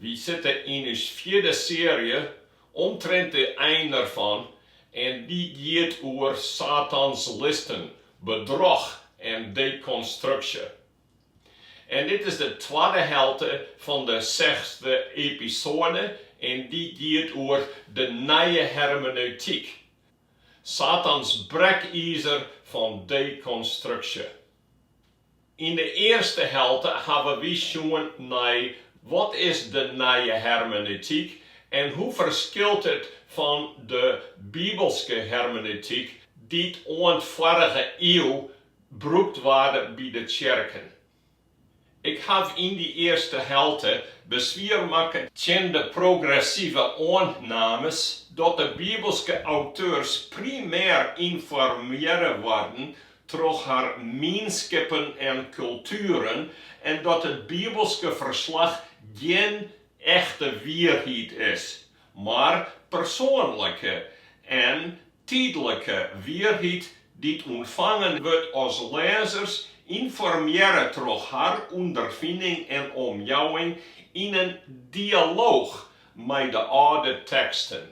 Wy sitte yn ús fjirde searje omtrint de ein derfan en dy giet oer Satans listen, bedroch en dekonstruksje. En dit is de twadde helte fan de sechsde episoade en dy giet oer de nije hermeneutyk, Satans brekizer fan dekonstruksje. Yn de earste helte hawwe wy sjoen nei wat is de nije hermeneutyk en hoe ferskilt it fan de bibelske hermeneutyk dy't oant foarige iuw brûkt waard by de tsjerken. Ik haw yn dy earste helte beswier makke tsjin de progressive oannames dat de bibelske auteurs primêr ynformearre waarden troch har mienskippen en kultueren en dat it bibelske ferslach gjin echte wierheid is, mar persoanlike en tydlike wierheid dy't ûntfangen wurdt as lêzers ynformearre troch har ûnderfining en omjouwing yn in dialooch mei de âlde teksten.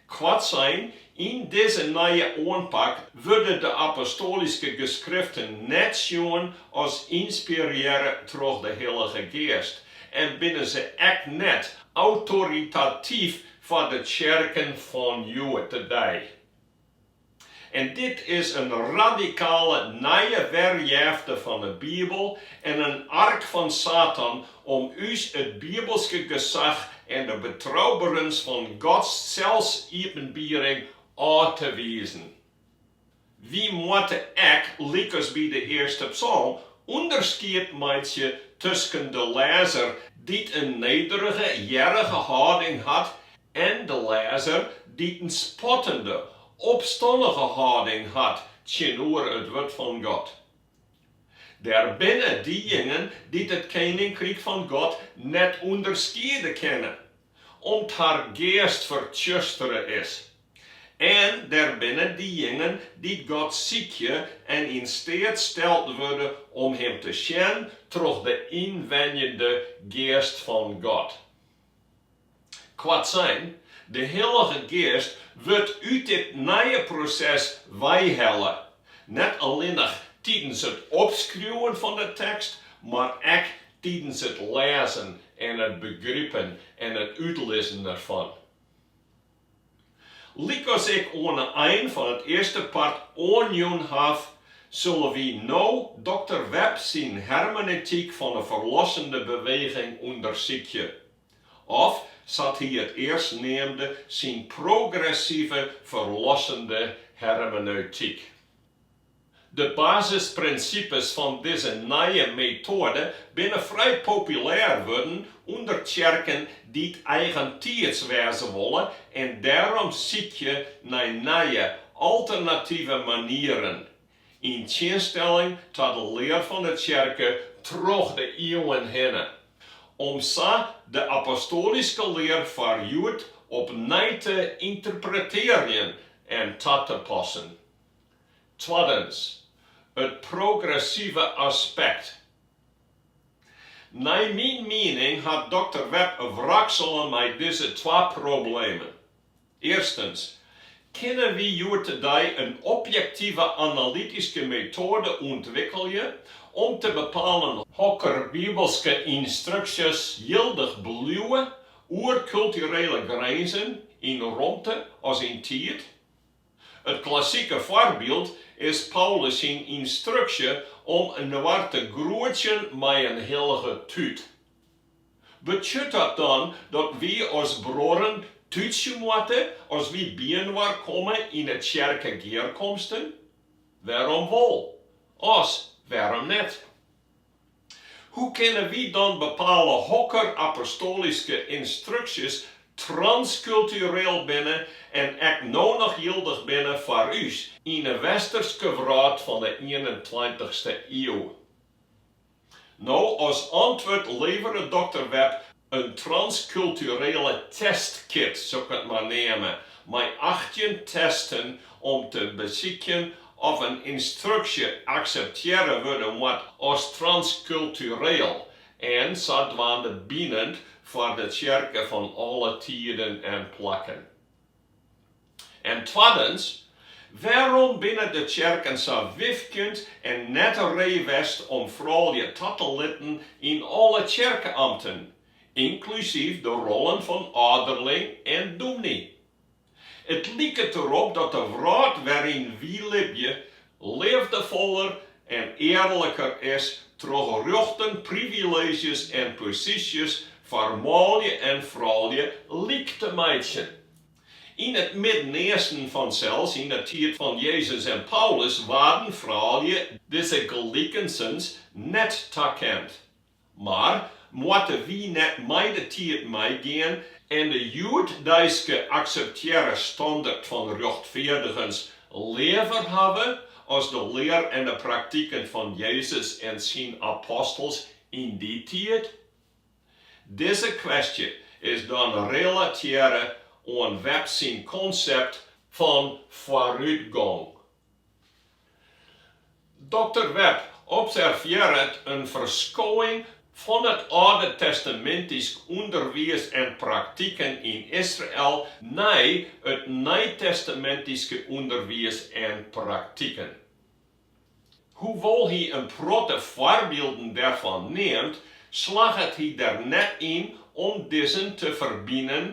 Koartsein, yn dizze nije oanpak wurde de apostolyske geskriften net sjoen as ynspirearre troch de Hillige Geast en binne se ek net autoritatyf foar de tsjerken fan hjoed-de-dei. En dit is in radikale nije werjefte fan 'e Bibel en in ark fan Satan om ús it bibelske gesach en de betrouberens fan Gods selsiepenbiering ôf te wizen. Wy moatte ek, lykas by de earste psalm, ûnderskied meitsje tusken de lêzer dy't in nederige, gearrige hâlding hat en de lêzer dy't in spottende, opstannige hâlding hat tsjinoer it wurd fan God. Der binne diejingen dy't it keninkryk fan God net ûnderskiede kinne, om't har geast fertsjustere is, en der binne diejingen dy't God sykje en yn steat steld wurde om Him te sjen troch de ynwenjende geast fan God. Koartsein, de Hillige Geast wurdt út dit nije proses weihelle, net allinnich tidens it opskriuwen fan de tekst, mar ek tidens it lêzen en it begripen en it útlizzen derfan. Lykas ik oan 'e ein fan it earste part oanjûn haw, sille wy no dokter Webb syn hermeneutyk fan 'e ferlossende beweging ûndersykje. Of sa't hy it earst neamde syn progressive ferlossende hermeneutyk. De basisprinsipes fan dizze nije metoade binne frij populêr wurden ûnder tsjerken dy't eigentiids wêze wolle en dêrom sykje nei nije, alternative manieren Yn tsjinstelling ta de lear fan de tsjerke troch de iuwen hinne, om sa de apostoalyske lear foar hjoed opnij te ynterpretearjen en ta te passen. Twaddens, it progressive aspekt. Nei myn miening hat dokter Webb wraksele mei dizze twa problemen. Earstens, kinne wy hjoed-de-dei in objektive analytyske metoade ûntwikkelje om te bepalen hokker bibelske ynstruksjes jildich bliuwe oer kulturele grinzen yn romte as yn tiid? It klassike foarbyld is Paulus syn ynstruksje om inoar te groetsjen mei in hillige tút. Betsjut dat dan dat wy as bruorren tútsje moatte as wy byinoar komme yn 'e tsjerkegearkomsten? Wêrom wol, as wêrom net? Hoe kinne wy dan bepale hokker apostoalyske ynstruksjes transkultureel binne en ek no noch jildich binne foar ús, yn 'e westerske wrâld fan 'e ienentweintichste iuw? No, as antwurd levere dokter Webb in transkulturele testkit, soe ik it mar neame, mei achttjin testen om te besykjen oft in ynstruksje akseptearre wurde moat as transkultureel en sadwaande binend foar de tsjerke fan alle tiden en plakken. En twaddens, wêrom binne de tsjerken sa wifkjend en net ree west om froulju ta te litten yn alle tsjerkeamten, ynklusyf de rollen fan âlderling en dûmny? It liket derop dat de wrâld wêryn't wy libje leafdefoller en earliker is troch rjochten, privileezjes en posysjes foar manlju en froulju lyk te meitsjen. Yn it Midden-Easten, fansels, yn de tiid fan Jezus en Paulus, waarden froulju dizze gelikensens net takend. Mar moatte wy net mei de tiid meigean en de hjoeddeiske akseptearre standert fan rjochtfeardigens leaver hawwe as de lear en de praktiken fan Jezus en syn apostels yn dy tiid? Dizze kwestje is dan relatearre oan Webb syn konsept fan foarútgong. Doktor Webb observearret in ferskoing fan it Aldtestamintysk ûnderwiis en praktiken yn Israel nei it Nijtestamintyske ûnderwiis en praktiken. Hoewol't hy in protte foarbylden dêrfan neamt, slagget hy der net yn om dizzen te ferbinen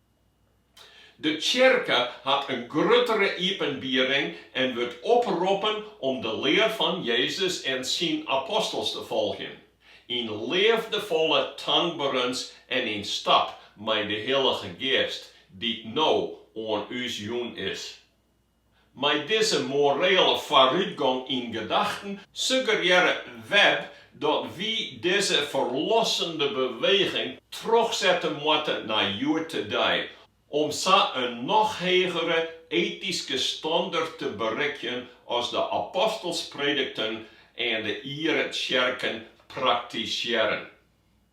De tsjerke hat in gruttere iepenbiering en wurdt oproppen om de lear fan Jezus en syn apostels te folgjen, yn leafdefolle tankberens en yn stap mei de Hillige Geast dy't no oan ús jûn is. Mei dizze morele foarútgong yn gedachten suggerearre Webb dat wy dizze ferlossende beweging trochsette moatte nei hjoed-de-dei, om sa in noch hegere etyske standert te berikjen as de apostels predikten en de iere tsjerke praktisearre.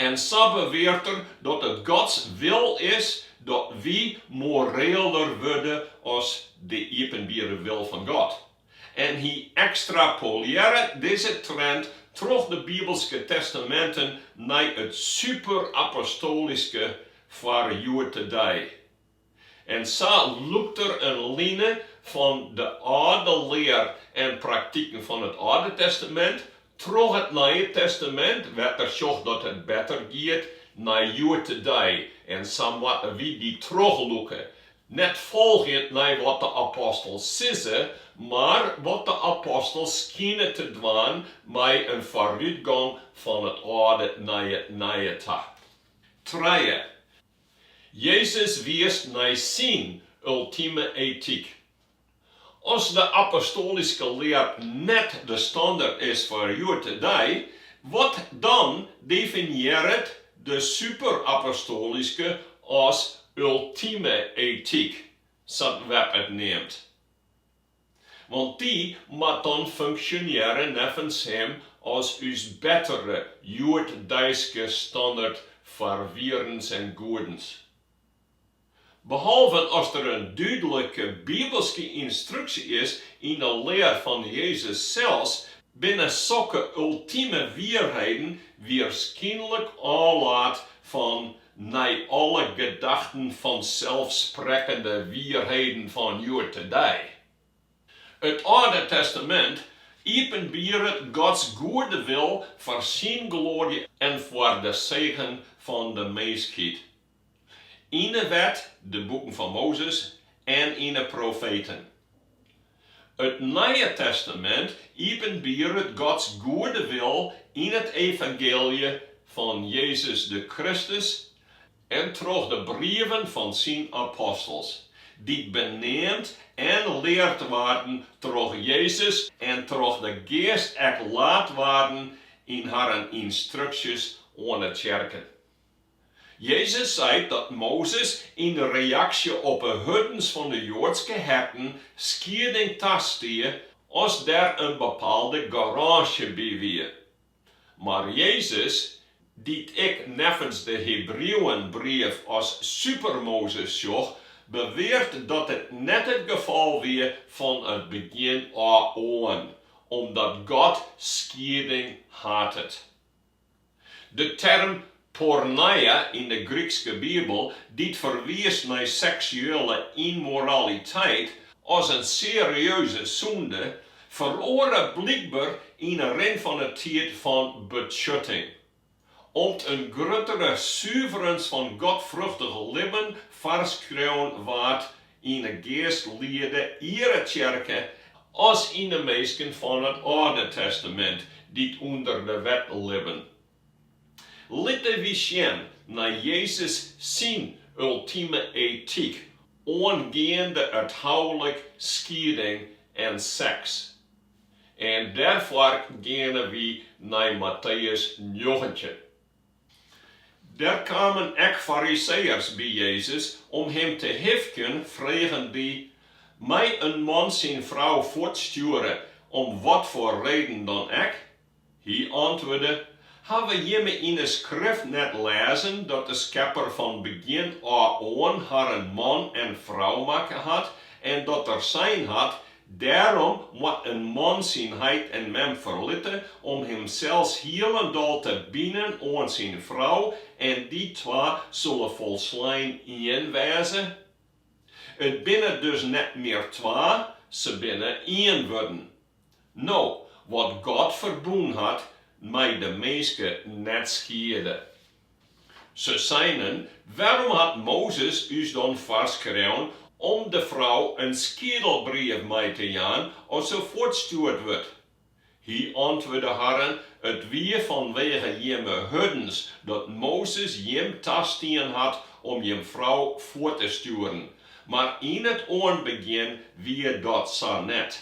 En sa beweart er dat it Gods wil is dat wy moreeler wurde as de iepenbiere wil fan God. En hy ekstrapolearre dizze trend troch de Bibelske Testaminten nei it superapostolyske foar hjoed-de-dei. En sa lûkt er in line fan de âlde lear en praktiken fan it Alde Testamint troch it Nije Testamint, wêr't er sjocht dat it better giet nei hjoed-de-dei en sa moatte wy dy trochlûke, net folgjend nei wat de apostels sizze, mar wat de apostels skine te dwaan mei in foarútgong fan it Alde nei it Nije ta. Trije, Jezus wiist nei syn ultime etyk. As de apostolyske lear net de standert is foar hjoed-de-dei, wat dan definiearret de superapostolyske as ultime etyk, sa't Webb it neamt? Want dy moat dan funksjonearje neffens him as ús bettere hjoeddeiske standert foar wierens en goedens. Behalven as der in dúdlike bibelske ynstruksje is yn 'e lear fan Jezus sels, binne sokke ultime wierheden wierskynlik ôflaat fan Nei alle gedachten fan selsprekkende wierheden fan hjoed-de-dei. It Alde Testamint iepenbieret Gods goede wil foar syn gloarje en foar de segen fan de minskheid. Yn 'e Wet, de boeken fan Mozes, en yn 'e profeten. It Nije Testamint iepenbieret Gods goede wil yn it evangeelje fan Jezus de Kristus en troch de brieven fan syn apostels, dy't beneamd en leard waarden troch Jezus en troch de Geast ek laat waarden yn harren ynstruksjes oan 'e tsjerken. Jezus seit dat Mozes yn reaksje op 'e hurdens fan 'e Joadske herten skieding tastie as der in bepaalde garânsje by wie. Mar Jezus, dy't ik neffens de Hebrieuwenbrief as super-Mozes sjoch, beweart dat it net it gefal wie fan it begjin ôf oan, omdat God skieding hatet. De term porneia yn de Grykske Bibel, dy't ferwiist nei seksuele ymmoraliteit as in serieuze sûnde, feroare blykber yn 'e rin fan 'e tiid fan betsjutting. Om't in gruttere suverens fan godfruchtich libben foarskreaun waard, Yn de geastliede iere tsjerke as yn de minsken fan it Alde Testamint dy't ûnder de Wet libben. Litte wy sjen nei Jezus syn ultime etyk oangeande it houlik, skieding en seks. En dêrfoar geane wy nei Matteüs njoggentjin. Der kamen ek Fariseeërs by Jezus om him te hifkjen, fregen dy, Mei in man syn frou fuortstjoere, om watfoar reden dan ek? Hy antwurde, Hawwe jimme yn 'e Skrift net lêzen dat de Skepper fan begjin ôf oan harren man en frou makke hat en dat Er sein hat, Dêrom moat in man syn heit en mem ferlitte om himsels hielendal te binen oan syn frou en dy twa solle folslein ien wêze. It binne dus net mear twa, se binne ien wurden. No, wat God ferbûn hat, mei de minske net skiede. Se seinen, Wêrom hat Mozes ús dan foarskreaun om de frou in skiedelbrief mei te jaan as se fuortstjoerd wurdt? Hy antwurde harren, It wie fanwege jimme hurdens dat Mozes jim tastien hat om jim frou fuort te stjoeren, mar yn it oanbegjin wie dat sa net.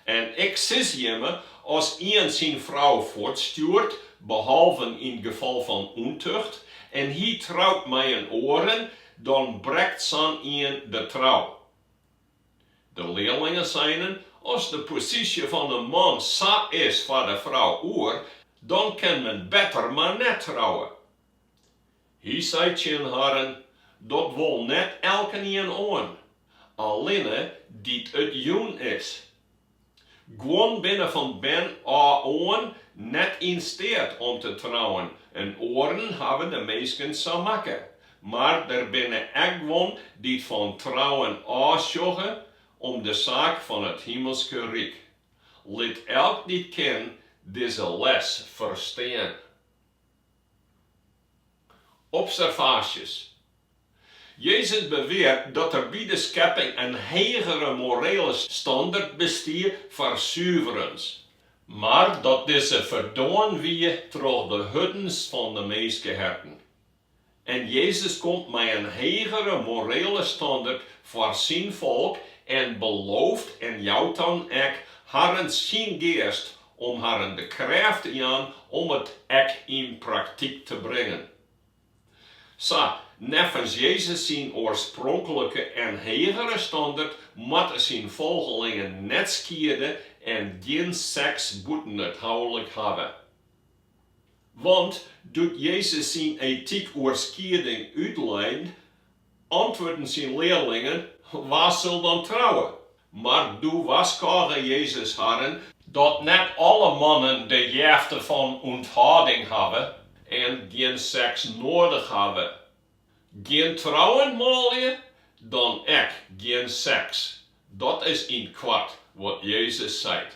En ik sis jimme, as ien syn frou fuortstjoert, behalven yn gefal fan ûntucht, en hy trout mei in oare, dan brekt sa'n ien de trou. De learlingen seinen, As de posysje fan in man sa is foar de frou oer, dan kin men better mar net trouwe. Hy sei tsjin harren, Dat wol net elkenien oan, allinne dy't it jûn is. Guon binne fan bern ôf oan net yn steat om te trouwen en oaren hawwe de minsken sa makke, mar der binne ek guon dy't fan trouwen ôfsjogge om de saak fan it Himelske Ryk. Lit elk dy't kin dizze les ferstean. Observaasjes, Jezus beweart dat der by de skepping in hegere morele standert bestiet foar suverens, mar dat dizze ferdoarn wie troch de hurdens fan de minskeherten. En Jezus komt mei in hegere morele standert foar syn folk en belooft en jout dan ek harren syn geast Om harren de krêft te jaan om it ek yn praktyk te bringen. Sa, neffens Jezus syn oarspronklike en hegere standert moatte syn folgelingen net skiede en gjin seks bûten it houlik hawwe. Want doe't Jezus syn etyk oer skieding útlei, Antwurden syn learlingen, Wa sil dan trouwe? Mar doe warskôge Jezus harren, dat net alle mannen de jefte fan ûnthâlding hawwe en gjin seks noadich hawwe. Gjin trouwen manlju, dan ek gjin seks. Dat is yn 't koart wat Jezus seit.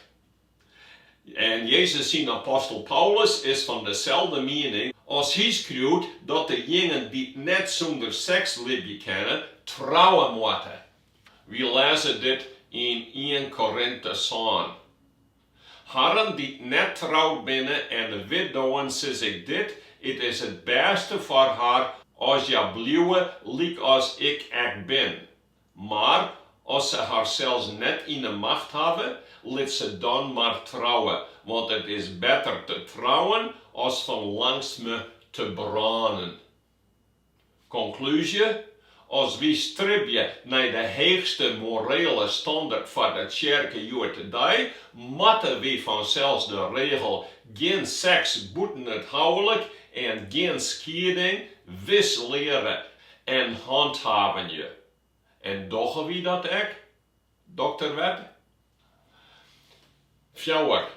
En Jezus syn apostel Paulus is fan deselde miening as hy skriuwt dat dejingen dy't net sûnder seks libje kinne, trouwe moatte. Wy lêze dit yn ien Korintiërs sân. Harren dy't net troud binne en de widdowen sis ik dit, it is it bêste foar har as hja bliuwe lykas ik ek bin. Mar as se harsels net yn 'e macht hawwe, lit se dan mar trouwe, want it is better te trouwen as fan langsme te brânen. Konklúzje, As wy stribje nei de heechste morele standert foar de tsjerke hjoed-de-dei moatte wy fansels de regel gjin seks bûten it houlik en gjin skieding wis leare En hânthâvenje. En dogge wy dat ek, dokter Webb? Fjouwer,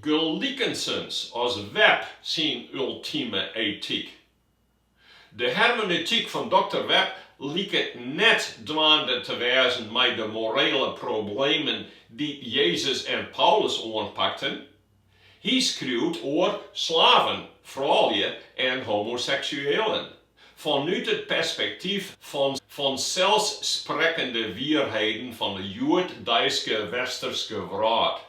Gelikensens as Webb syn ultime etyk. De hermeneutyk fan dokter Webb liket net dwaande te wêzen mei de morele problemen dy't Jezus en Paulus oanpakten. Hy skriuwt oer slaven, froulju en homoseksuealen fanút it perspektyf fan fanselsprekkende wierheden fan de hjoeddeiske Westerske wrâld.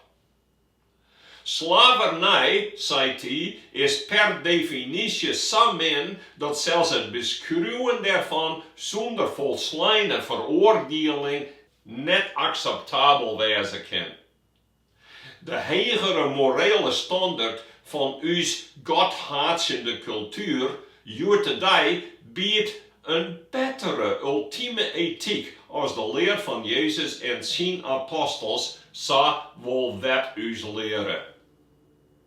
Slavernij, seit hy, is per definysje sa min dat sels it beskriuwen dêrfan sûnder folsleine feroardieling net akseptabel wêze kin. De hegere morele standert fan ús godhaatsjende kultuer hjoed-de-dei biedt in bettere ultime etyk as de lear fan Jezus en syn apostels, sa wol Webb ús leare.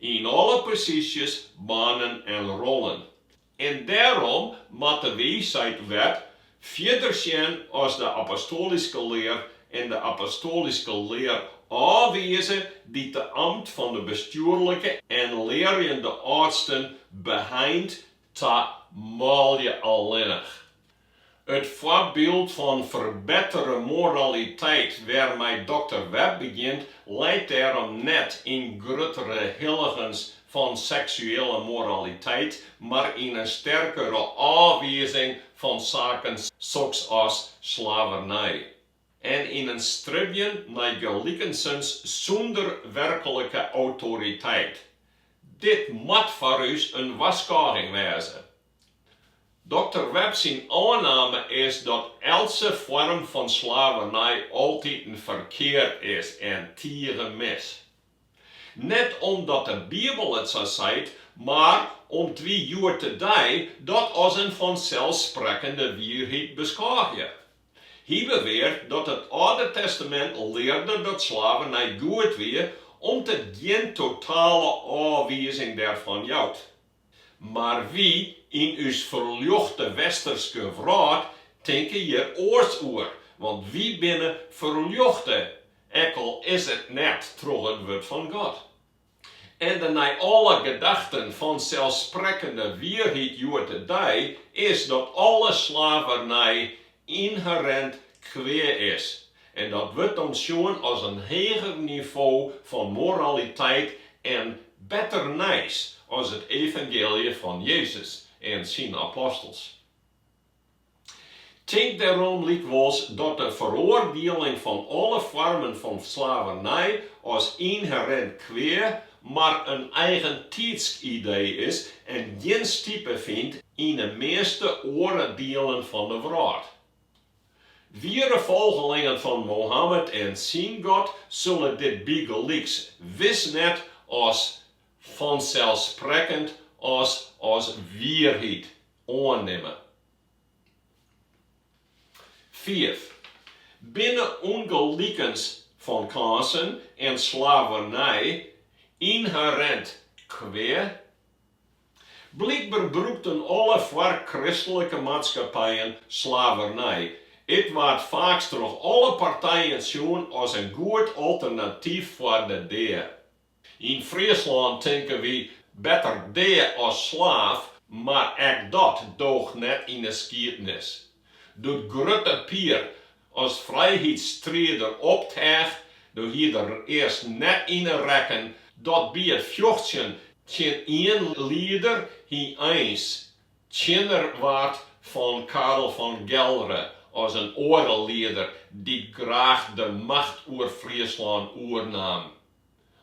Yn alle posysjes, banen en rollen. En dêrom moatte wy, seit Webb, fierder sjen as de apostoalyske lear en de apostoalyske lear ôfwize dy't it amt fan de bestjoerlike en learjende âldsten beheint ta manlju allinnich. It foarbyld fan ferbettere moraliteit wêrmei dokter Webb begjint leit dêrom net yn gruttere hilligens fan seksuele moraliteit, mar yn in sterkere ôfwiezing fan saken soks as slavernij en yn in stribjen nei gelikensens sûnder werklike autoriteit. Dit moat foar ús in warskôging wêze. Dokter Webb syn oanname is dat eltse foarm fan slavernij altiten ferkeard is en tige mis. Net omdat de Bibel it sa seit, mar om't wy hjoed-de-dei dat as in fanselsprekkende wierheid beskôgje. Hy beweart dat it Alde Testamint learde dat slavernij goed wie, om't it gjin totale ôfwizing dêrfan jout. Mar wy yn ús ferljochte Westerske wrâld tinke hjir oars oer, want wy binne ferljochte, ek al is it net troch it wurd fan God. En de nei alle gedachten fanselsprekkende wierheid hjoed-de-dei is dat alle slavernij ynherint kwea is en dat wurdt dan sjoen as in heger nivo fan moraliteit en better nijs as it evangeelje fan Jezus en syn apostels. Tink dêrom lykwols dat de feroardieling fan alle foarmen fan slavernij as ynherint kwea mar in eigentiidsk idee is en gjin stipe fynt yn 'e measte oare dielen fan 'e wrâld. Wiere folgelingen fan Mohammed en syn God sulle dit bygelyks wis net as fanselsprekkend as as wierheid oannimme. Fiif, Binne ûngelikens fan kânsen en slavernij ynherint kwea? Blykber brûkten alle foarkristlike maatskappijen slavernij. It waard faaks troch alle partijen sjoen as in goed alternatyf foar de dea. Yn Fryslân tinke wy, better dea as slaaf, mar ek dat doocht net yn 'e skiednis. Doe't Grutte Pier as frijheidsstrider opteach, doe hie er earst net yn 'e rekken dat by it fjochtsjen tsjin ien lieder hy eins tsjinner waard fan Karel fan Gelre as in oare lieder dy't graach de macht oer Fryslân oernaam.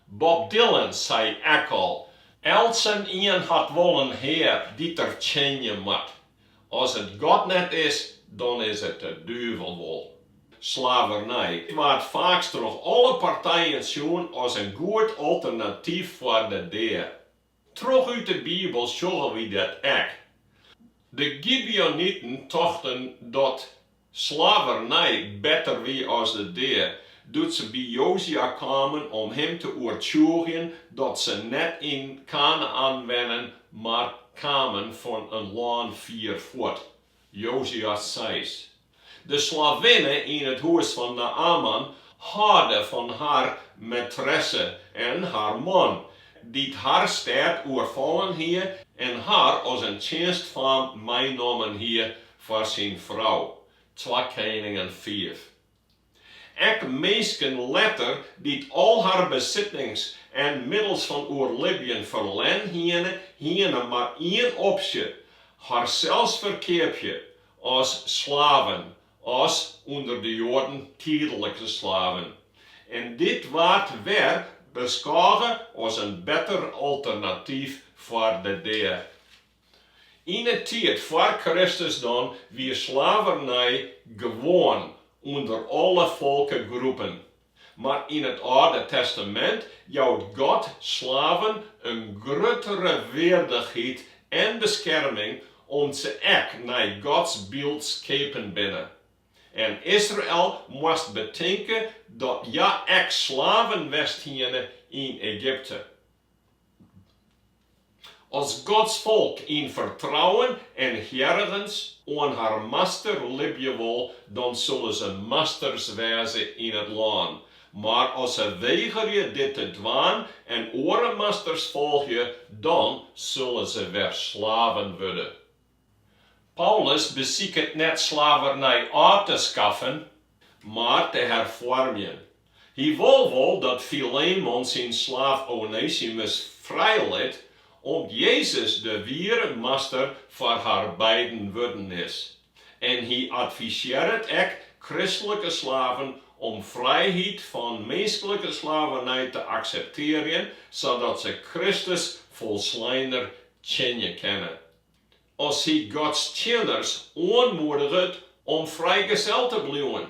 Bob Dylan sei ek al, Eltsenien hat wol in hear dy't er tsjinje moat. As it God net is, dan is it de duvel wol. Slavernij waard faaks troch alle partijen sjoen as in goed alternatyf foar de dea. Troch út de Bibel sjogge wy dat ek. De Gibeoniten tochten dat slavernij better wie as de dea, doe't se by Jozua kamen om him te oertsjûgjen dat se net yn Kanaän wennen, mar kamen fan in lân fier fuort. Jozua seis. De slavinne yn it hûs fan Naaman hâlde fan har maîtresse en har man, dy't har stêd oerfallen hie en har as in tsjinstfaam meinommen hie foar syn frou. Twa Keningen fiif. Ek minsken letter dy't al har besittings en middels fan oerlibjen ferlern hiene, hiene mar ien opsje, harsels ferkeapje as slaven, as ûnder de Joaden tydlike slaven. En dit waard wer beskôge as in better alternatyf foar de dea. Yn 'e tiid foar Kristus dan wie slavernij gewoan ûnder alle folkegroepen, mar yn it Alde Testamint jout God slaven in gruttere weardichheid en beskerming om't se ek nei Gods byld skepen binne. En Israel moast betinke dat hja ek slaven west hiene yn Egypte. As Gods folk yn fertrouwen en hearrigens oan har Master libje wol, dan sille se masters wêze yn it lân. Mar as se wegerje dit te dwaan en oare masters folgje, dan sille se wer slaven wurde. Paulus besiket net slavernij ôf te skaffen, mar te herfoarmjen. Hy wol wol dat Filemon syn slaaf Onesimus frijlit, om't Jezus de wiere Master foar har beiden wurden is. En hy advisearret ek kristlike slaven om frijheid fan minsklike slavernij te akseptearjen, sadat se Kristus folsleiner tsjinje kinne. As hy Gods tsjinners oanmoediget om frijgezel te bliuwen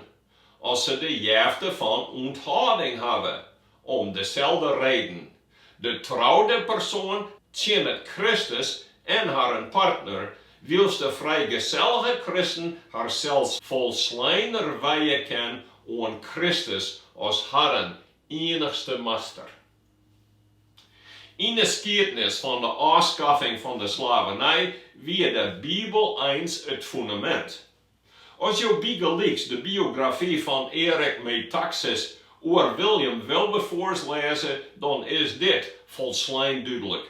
as se de jefte fan ûnthâlding hawwe, om deselde reden. De troude persoan tsjinnet Kristus en harren partner, wylst de frijgesellige kristen harsels folsleiner wijje kin oan Kristus as harren ienichste Master. Yn de skiednis fan de ôfskaffing fan de slavernij wie de Bibel eins it fundamint. As jo bygelyks de biografy fan Eric Metaxas oer William Wilberforce lêze, dan is dit folslein dúdlik.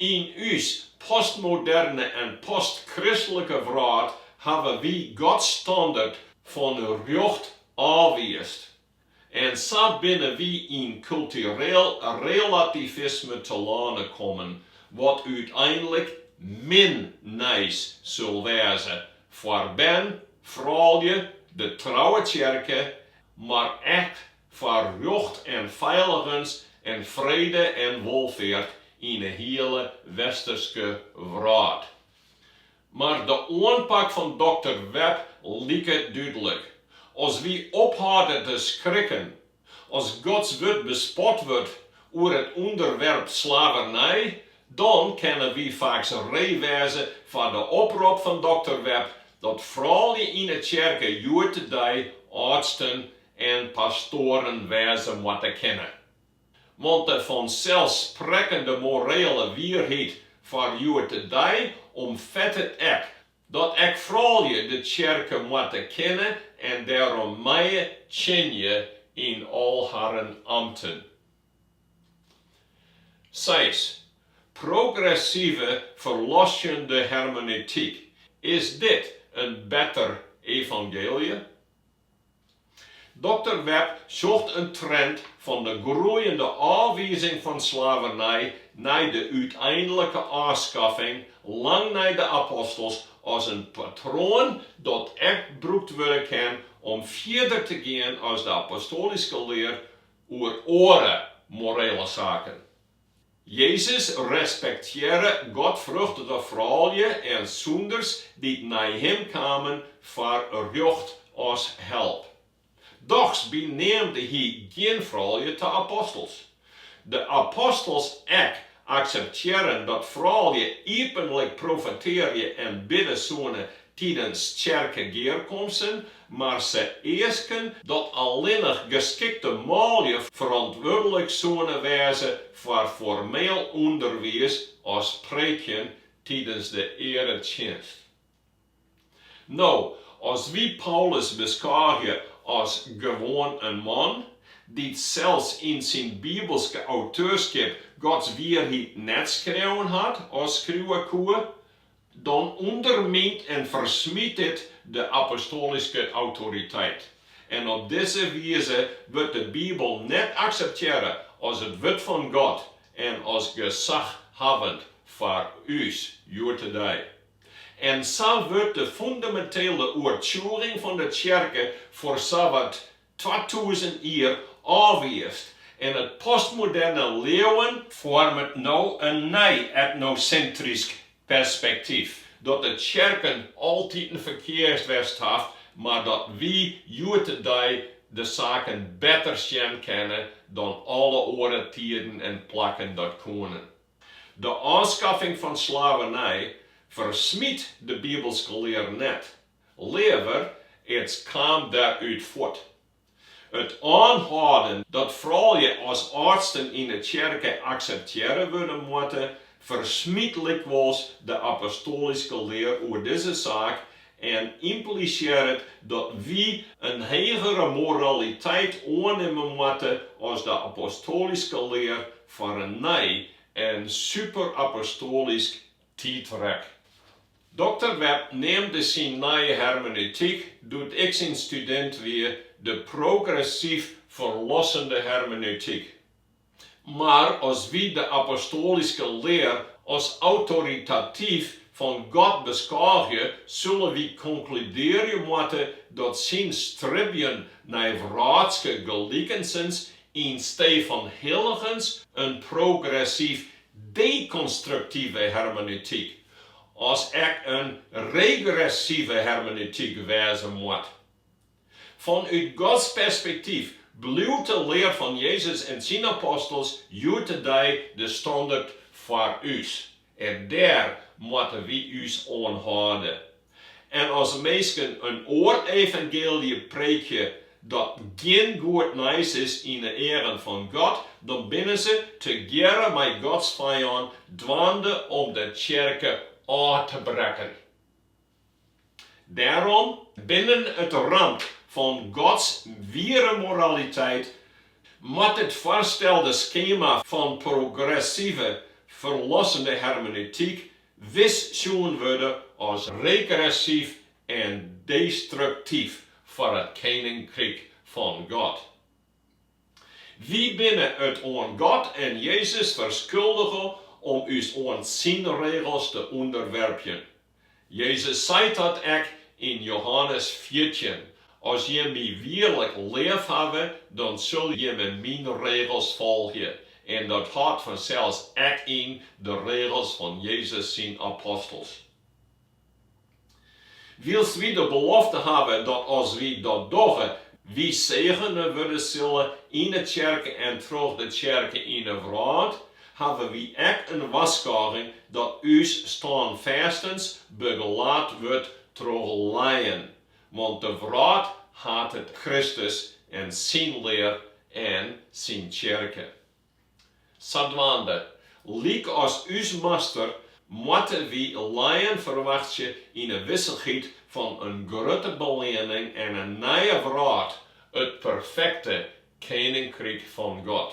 Yn ús postmoderne en postchristlike wrâld hawwe wy Gods standert fan rjocht ôfwiisd, en sa binne wy yn kultureel relativisme telâne kommen, wat úteinlik min nijs sil wêze foar bern, froulju, de trouwe tsjerke, mar ek foar rjocht en feiligens en frede en wolfeart yn 'e hiele Westerske wrâld. Mar de oanpak fan dokter Webb liket dúdlik, as wy ophâlden te skrikken as Gods Wurd bespot wurdt oer it ûnderwerp slavernij, dan kinne wy faaks ree wêze foar de oprop fan dokter Webb dat froulju yn 'e tsjerke hjoed-de-dei âldsten en pastoaren wêze moatte kinne. Want de fanselssprekkende morele wierheid foar hjoed-de-dei omfettet ek dat ek froulju de tsjerke moatte kinne en dêrom meie tsjinje yn al harren amten. Seis, progressive ferlossjende hermenetyk, is dit in better evangeelje? Dokter Webb sjocht in trend fan de groeiende ôfwizing fan slavernij nei de úteinlike ôfskaffing lang nei de apostels as in patroan dat ek brûkt wurde kin om fierder te gean as de apostoalyske lear oer oare morele saken. Jezus respektearre godfruchtige froulju en sûnders dy't nei Him kamen foar rjocht as help. Dochs beneamde Hy gjin froulju ta apostels. De apostels ek akseptearren dat froulju iepenlik profetearje en bidde soene Tidens tsjerkegearkomsten mar se easken dat allinnich geskikte manlju ferantwurdlik soene wêze foar formeel ûnderwiis as preekjen tidens de earetsjinst. No, as wy Paulus beskôgje as gewoan in man, dy't sels yn syn bibelske auteurskip Gods wierheid net skreaun hat as skriuwe koe, Dan ûndermynt en fersmyt dit de apostoalyske autoriteit. En op dizze wize wurdt de Bibel net akseptearre as it wurd fan God en as gesaghawwend foar ús hjoed-de-dei. En sa wurdt de fûnemintele oertsjûging fan de tsjerke foar sawat twatûzen jier ôfwiisd en it postmoderne leauwen foarmet no in nij etnosintrysk perspektyf, dat de tsjerken altiten ferkeast west hat, mar dat wy hjoed-de-dei de saken better sjen kinne dan alle oare tiden en plakken dat koenen. De ôfskaffing fan slavernij fersmyt de bibelske lear net, Leaver, it kaam dêrút fuort. It oanhâlden dat froulju as âldsten yn 'e tsjerke akseptearre wurde moatte, fersmyt lykwols de apostoalyske lear oer dizze saak en ymplisearret dat wy in hegere moraliteit oannimme moatte as de apostoalyske lear foar in nij en superapostoalysk tiidrek. Dokter Webb neamde syn nije hermeneutyk, doe't ik syn studint wie, de progressyf ferlossende hermeneutyk. Mar as wy de apostoalyske lear as autoritatyf fan God beskôgje, sille wy konkludearje moatte dat syn stribjen nei wrâldske gelikensens ynstee fan hilligens in progressyf dekonstruktive hermeneutyk, as ek in regressive hermeneutyk wêze moat. Fanút Gods perspektyf bliuwt de lear fan Jezus en syn apostels hjoed-de-dei de standert foar ús. En dêr moatte wy ús oan hâlde. En as minsken in oar evangeelje preekje dat gjin goed nijs is yn 'e earen fan God, dan binne se, tegearre mei Gods fijân, dwaande om de tsjerke ôf te brekken. Dêrom, binnen it ramt fan Gods wiere moraliteit, moat it foarstelde skema fan progressive, ferlossende hermeneutyk wis sjoen wurde as regressyf en destruktyf foar it keninkryk fan God. Wy binne it oan God en Jezus ferskuldige om ús oan Syn regels te ûnderwerpjen. Jezus sei dat ek yn Johannes fjirtjin, As jimme my wierlik leafhawwe, dan sil jimme myn regels folgje, en dat hâldt fansels ek yn de regels fan Jezus syn apostels. Wylst wy de belofte hawwe dat as wy dat dogge, wy segene wurde sille yn 'e tsjerke en troch de tsjerke yn 'e wrâld, hawwe wy ek in warskôging dat ús stânfêstens begelaat wurdt troch lijen Want de wrâld hatet Kristus en syn lear en syn tsjerke. Sadwaande, lykas ús Master, moatte wy lijen ferwachtsje yn 'e wissichheid fan in grutte beleanning en in nije wrâld, it perfekte Keninkryk fan God.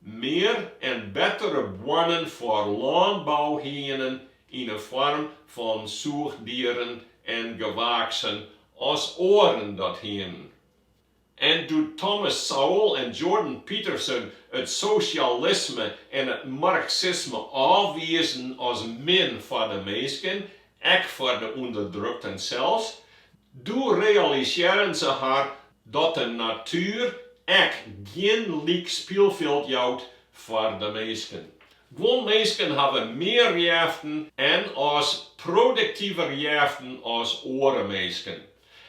Mear en bettere boarnen foar lânbou hienen yn 'e foarm fan sûchdieren en gewaaksen as oaren dat hienen. En doe't Thomas Sowell en Jordan Peterson it sosjalisme en it marksisme ôfwiisden as min foar de minsken Ek foar de ûnderdrukten sels. Doe realisearren se har dat de natuer ek gjin lyk spylfjild jout foar de minsken. Guon minsken hawwe mear jeften en as produktiver jeften as oare minsken.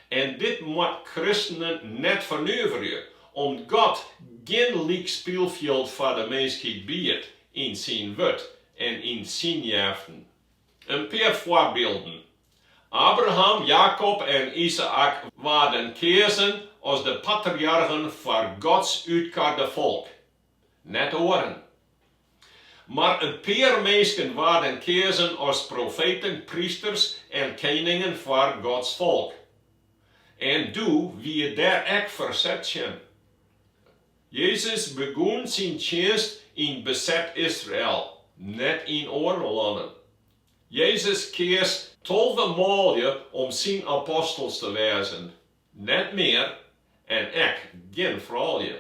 En dit moat kristenen net fernuverje, om't God gjin lyk spylfjild foar de minskheid biedt yn syn wurd en yn syn jeften. In pear foarbylden. Abraham, Jakob en Izaäk waarden keazen as de patriargen foar Gods útkarde folk, net oaren. Mar in pear minsken waarden keazen as profeten, prysters en keningen foar Gods folk. En doe wie dêr ek ferset tsjin. Jezus begûn syn tsjinst yn beset Israel, net yn oare lannen. Jezus keas tolve manlju om syn apostels te wêzen, net mear en ek gjin froulju.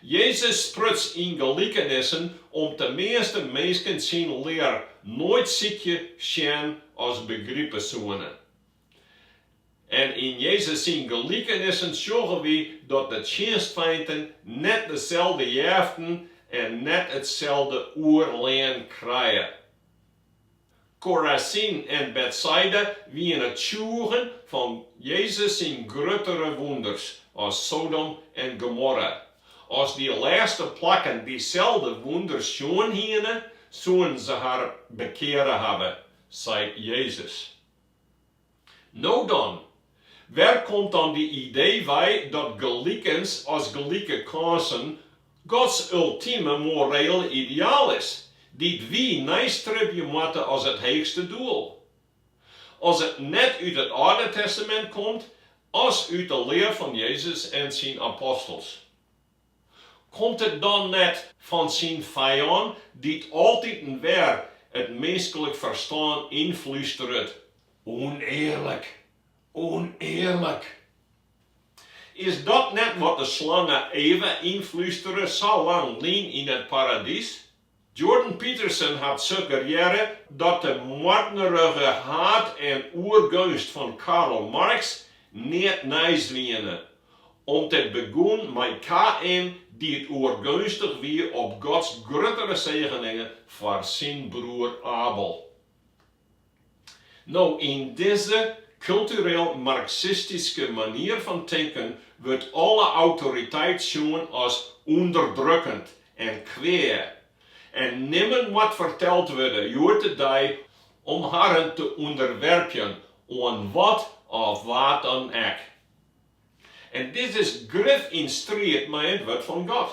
Jezus spruts yn gelikenissen om't de measte minsken syn lear noait sykje, sjen as begripe soene. En yn Jezus syn gelikenissen sjogge wy dat de tsjinstfeinten net deselde jeften en net itselde oerlien krije. Korazyn en Betsaida wiene tsjûgen fan Jezus syn gruttere wûnders as Sodom en Gomorra. As dy lêste plakken dyselde wûnders sjoen hiene, soenen se har bekeare hawwe, seit Jezus. No dan, wêr komt dan dy idee wei dat gelikens as gelike kânsen Gods ultime morele ideaal is, dy't wy neistribje moatte as it heechste doel? As it net út it Alde Testamint komt, as út de lear fan Jezus en syn apostels. Komt it dan net fan syn fijân dy't altiten wer it minskelik ferstân ynflústeret, Unearlik, unearlik? Is dat net wat de slange Eva ynflústere sa lang lyn yn it paradys? Jordan Peterson hat suggerearre dat de moardnerige haat en oergeunst fan Karl Marx neat nijs wiene, om't it begûn mei Kaïn dy't oergeunstich wie op Gods gruttere segeningen foar syn broer Abel. No, yn dizze kultureel marksistyske manier fan tinken wurdt alle autoriteit sjoen as ûnderdrukkend en kwea, en nimmen moat ferteld wurde hjoed-de-dei om harren te ûnderwerpjen oan wat of wa dan ek. En dit is grif yn striid mei it Wurd fan God.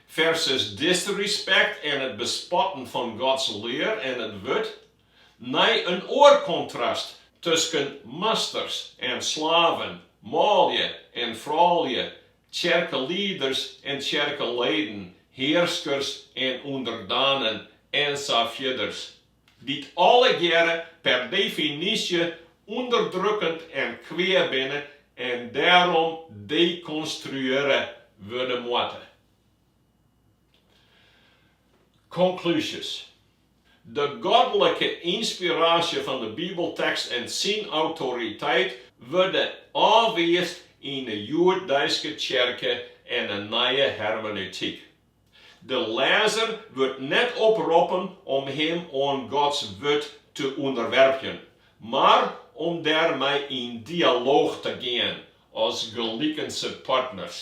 Versus disrespect en it bespotten fan Gods lear en it wurd, nei in oar kontrast tusken masters en slaven, manlju en froulju, tsjerkelieders en tsjerkeleden, hearskers en ûnderdanen, en sa fierders. Dy't allegearre per definysje ûnderdrukkend en kwea binne en dêrom dekonstruearre wurde moatte. Konklúzjes. De godlike ynspiraasje fan de Bibeltekst en syn autoriteit wurde ôfwiisd yn de hjoeddeiske tsjerke en de Nije Hermeneutyk. De lêzer wurdt net oproppen om him oan Gods Wurd te ûnderwerpjen, mar om dêr mei yn dialooch te gean as gelikense partners.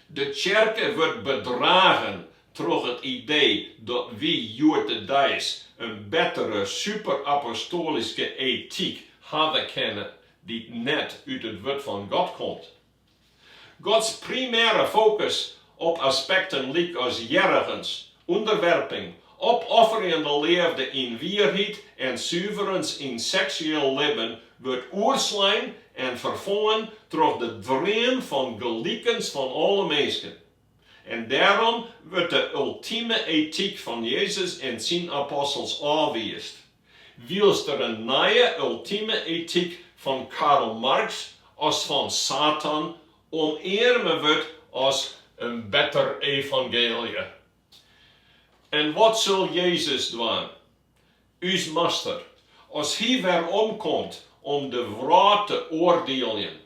De tsjerke wurdt bedragen troch it idee dat wy hjoed-de-deis in bettere superapostoalyske etyk hawwe kinne dy't net út it Wurd fan God komt. Gods primêre fokus op aspekten lykas hearrigens, ûnderwerping, opofferjende leafde yn wierheid en suverens yn seksueel libben wurdt oerslein en ferfongen troch de dream fan gelikens fan alle minsken. En dêrom wurdt de ultime etyk fan Jezus en syn apostels ôfwiisd, wylst der in nije ultime etyk fan Karl Marx as fan Satan omearme wurdt as in better evangeelje. En wat sil Jezus dwaan, ús Master, as hy weromkomt om de wrâld te oardieljen?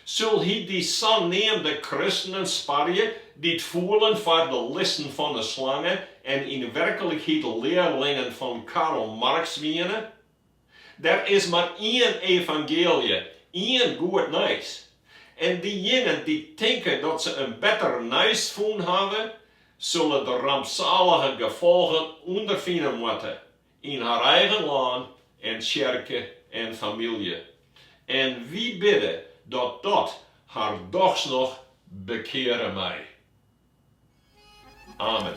Sil Hy dy saneamde kristenen sparje, dy't foelen foar de listen fan 'e slange en yn werklikheid learlingen fan Karl Marx wiene? Der is mar ien evangeelje, ien goed nijs. En dyjinen dy't tinke dat se in better nijs fûn hawwe, sille de rampsalige gefolgen ûnderfine moatte. Yn har eigen lân en tsjerke en famylje. En wy bidde dat dat har dochs noch bekeare mei. Amen.